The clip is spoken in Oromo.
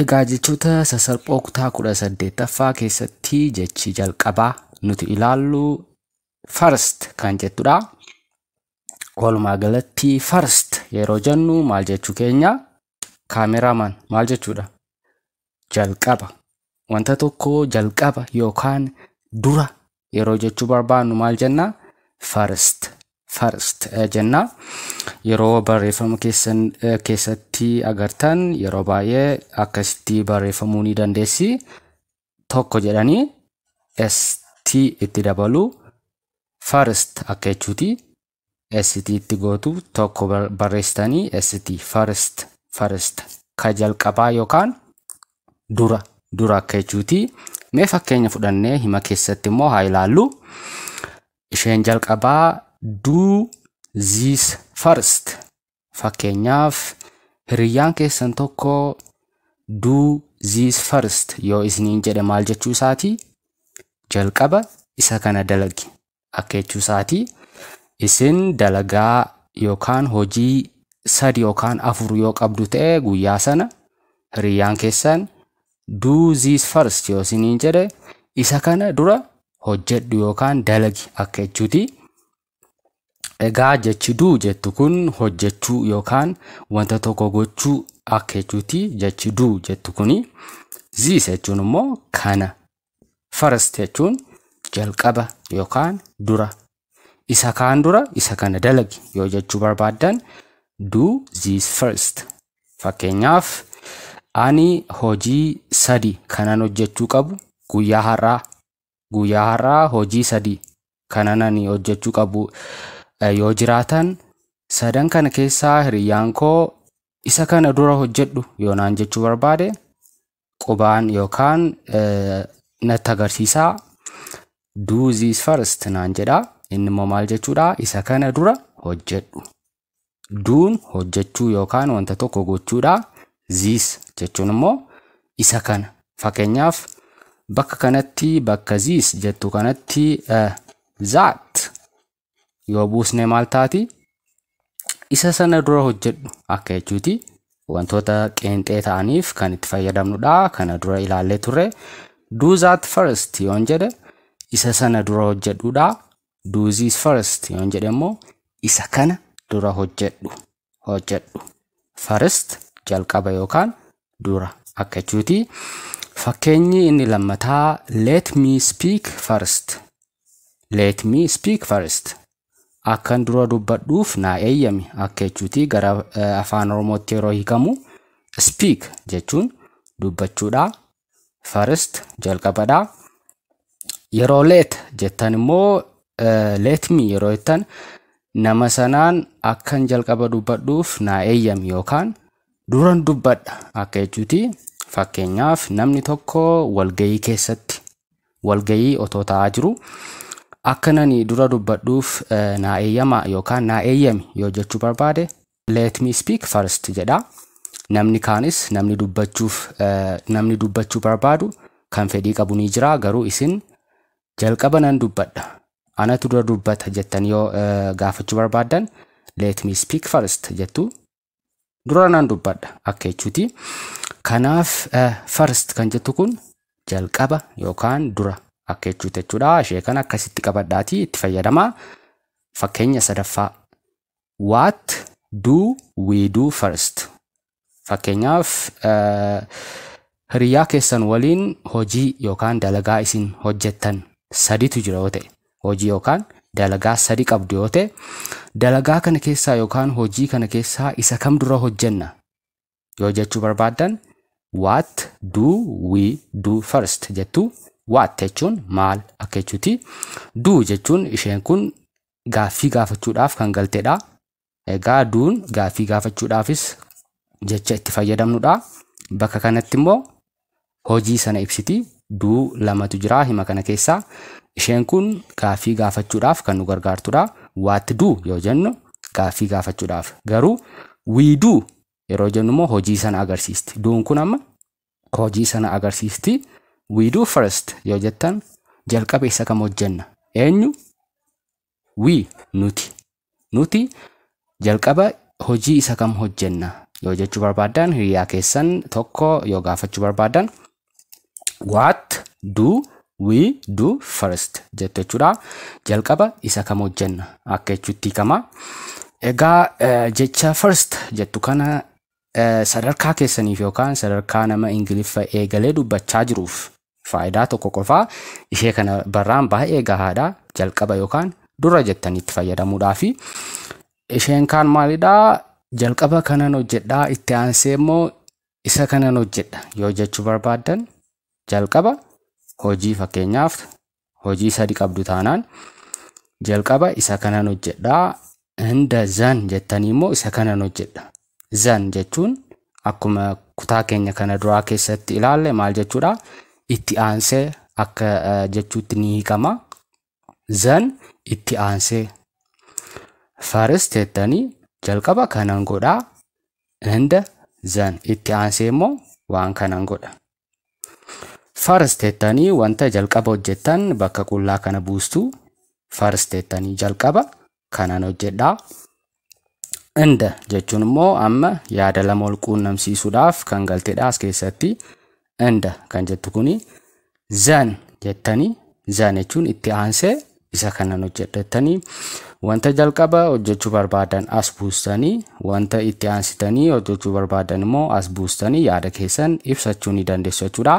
Egaa jechoota sasalphoo kutaa 18ffaa keessatti jechi jalqabaa nuti ilaallu first kan jettudha. Walumaa galatti first yeroo jennu maal jechuu keenya? Kaameraman maal jechuudha? Jalqaba. Wanta tokko jalqaba yookaan dura yeroo jechuu barbaannu maal jenna? First. First eh, jenna. Yeroo barreeffama keessan eh, keessatti agartan yeroo baay'ee akkasitti barreeffamuu ni dandeessi. Tokko jedhanii ST itti dabalu first akka jechuuti. ST itti gootu tokko barreessitanii ST first first ka jalqabaa yookaan dura dura akka jechuuti. Mee fakkeenya fudhannee hima keessatti immoo haa ilaallu. Isheen jalqabaa do this first Fakkeenyaaf, hiriyyaan keessan tokko Do this first yoo isiniin jedhe maal jechuu isaati? Jalqaba isa kana dalagi akka jechuu isaati. Isin dalagaa yookaan hojii sadi yookaan afur yoo qabdu ta'e guyyaa sana hiriyyaan keessan Do this first yoo isiniin jedhe isa kana dura hojjedhu yookaan dalagi akka jechuuti. Egaa jechi du jettu kun hojjechuu yookaan wanta tokko gochuu akka jechuuti jechi du jettu kuni. This jechuun immoo kana. First jechuun jalqaba yookaan dura. Isa kaan dura isa kana dalagi yoo jechuu barbaaddan do this first. Fakkeenyaaf ani hojii sadi kanan hojjechuu qabu guyyaa har'aa guyyaa har'aa hojii sadii kanan ani hojjechuu qabu eh, yoo jiraatan sadan kana keessaa hiriyyaan koo isa kana dura hojjedhu yoo naan jechuu barbaade qubaan yookaan eh, natti agarsiisaa do this first naan jedha inni immoo maal jechuudha isa kana dura hojjedhu Duun hojjechuu yookaan wanta tokko gochuudha. Ziis jechuun immoo isa kana. Fakkeenyaaf bakka kanatti bakka ziis jettu kanatti zaat yoo buusne maal taati? Isa sana dura hojjedhu akka jechuuti. Wantoota qeenxee ta'aniif kan itti fayyadamnudha. Kana dura ilaallee turre. Do that first yoon jedhe isa sana dura hojjedhudha. do this first yoon jedhe immoo isa kana dura hojjedhu hojjedhu first jalqaba yookaan dura akka jechuuti fakkeenyi inni lammataa let me speak first let me speak first akkan dura dubbadhuuf naa eeyyami akka jechuuti gara eh, afaan oromootti yeroo hiikamu speak jechuun dubbachuudha first jalqabadha yeroo let jettan immoo eh, let me yeroo jettan nama sanaan akkan jalqaba dubbadhuuf naa eeyyam yookaan duran dubbadha akka jechuuti fakkeenyaaf namni tokko walgayii keessatti walgayii otoo ta'aa jiru akka nani dura dubbadhuuf eh, naa eeyyama yookaan naa eeyyami yoo jechuu barbaade Let me speak first jedha. Namni kaanis namni dubbachuuf namni dubbachuu barbaadu kan fedhii qabu ni jira garuu isin jalqaba nan dubbadha anatu dura dubbata jettan yoo gaafachuu barbaaddan let me speak first jettu dura nan dubbadha akka jechuuti. Kanaaf first kan jettu kun jalqaba yookaan dura akka jechuuti jechuudha. Ishee kana akkasitti qabadhaatii itti fayyadamaa. Fakkeenya sadaffaa What do we do first? Fakkeenyaaf hiriyyaa keessan waliin hojii yookaan dalagaa isin hojjettan saditu jira yoo ta'e hojii yookaan dalagaa sadi qabdu yoo ta'e dalagaa kana keessaa yookaan hojii kana keessaa isa kam dura hojjenna yoo jechuu barbaaddan what do we do first jettu what jechuun maal akka jechuuti do jechuun isheen kun gaaffii gaafachuudhaaf kan galtedha egaa duun gaaffii gaafachuudhaafis jecha itti fayyadamnudha bakka kanatti immoo hojii sana ibsiti. Du lamatu jira hima kana keessa. Isheen kun gaaffii gaafachuudhaaf kan nu gargaartudha. What do yoo jennu gaaffii gaafachuudhaaf. Garuu we do yeroo jennu immoo hojii sana agarsiisti. Duun kun amma hojii sana agarsiisti. We do first yoo jettan jalqaba isa kam hojjenna? Eenyu? We, nuti. Nuti jalqaba hojii isa kam hojjenna yoo jechuu barbaaddan hiriyaa keessan tokko yoo gaafachuu barbaaddan what do we do first jettu jechuudha. Jalqaba isa kam hojjenna akka jechuutti hiikama. Egaa eh, jecha first jettu kana Sadarkaa keessaniif yookaan sadarkaa nama Ingiliffa eegalee dubbachaa jiruuf faayidaa tokko qofaa ishee kana barraan baay'ee gahaadha. Jalqaba yookaan dura jettanii itti fayyadamuudhaafi. Isheen kaan maalidhaa? Jalqaba kanan hojjedhaa itti aansee immoo isa kanan hojjedha yoo jechuu barbaaddan jalqaba hojii fakkeenyaaf hojii sadi qabdu taanaan jalqaba isa kanan hojjedha hunda zan jettanii immoo isa kanan hojjedha zan jechuun akkuma kutaa keenya kana duraa keessatti ilaalle maal jechuudha itti aansee akka eh, jechuutti ni hiikama zan itti aansee first jettanii jalqaba kanan godhaa hunda zan itti aansee immoo waan kanan godha First jettanii wanta jalqaba hojjettan bakka qullaa kana buustu. First jettanii jalqaba kanan hojjedha. Inda jechuun immoo amma yaada lama wal quunnamsiisuudhaaf kan galtedha as keessatti. Inda kan jettu kuni zan jettanii zan jechuun itti aansee isa kanan hojjedha jettanii wanta jalqaba hojjechuu barbaadan as buustanii wanta itti aansitanii hojjechuu barbaadan immoo as buustanii yaada keessan ibsachuu ni dandeessu jechuudha.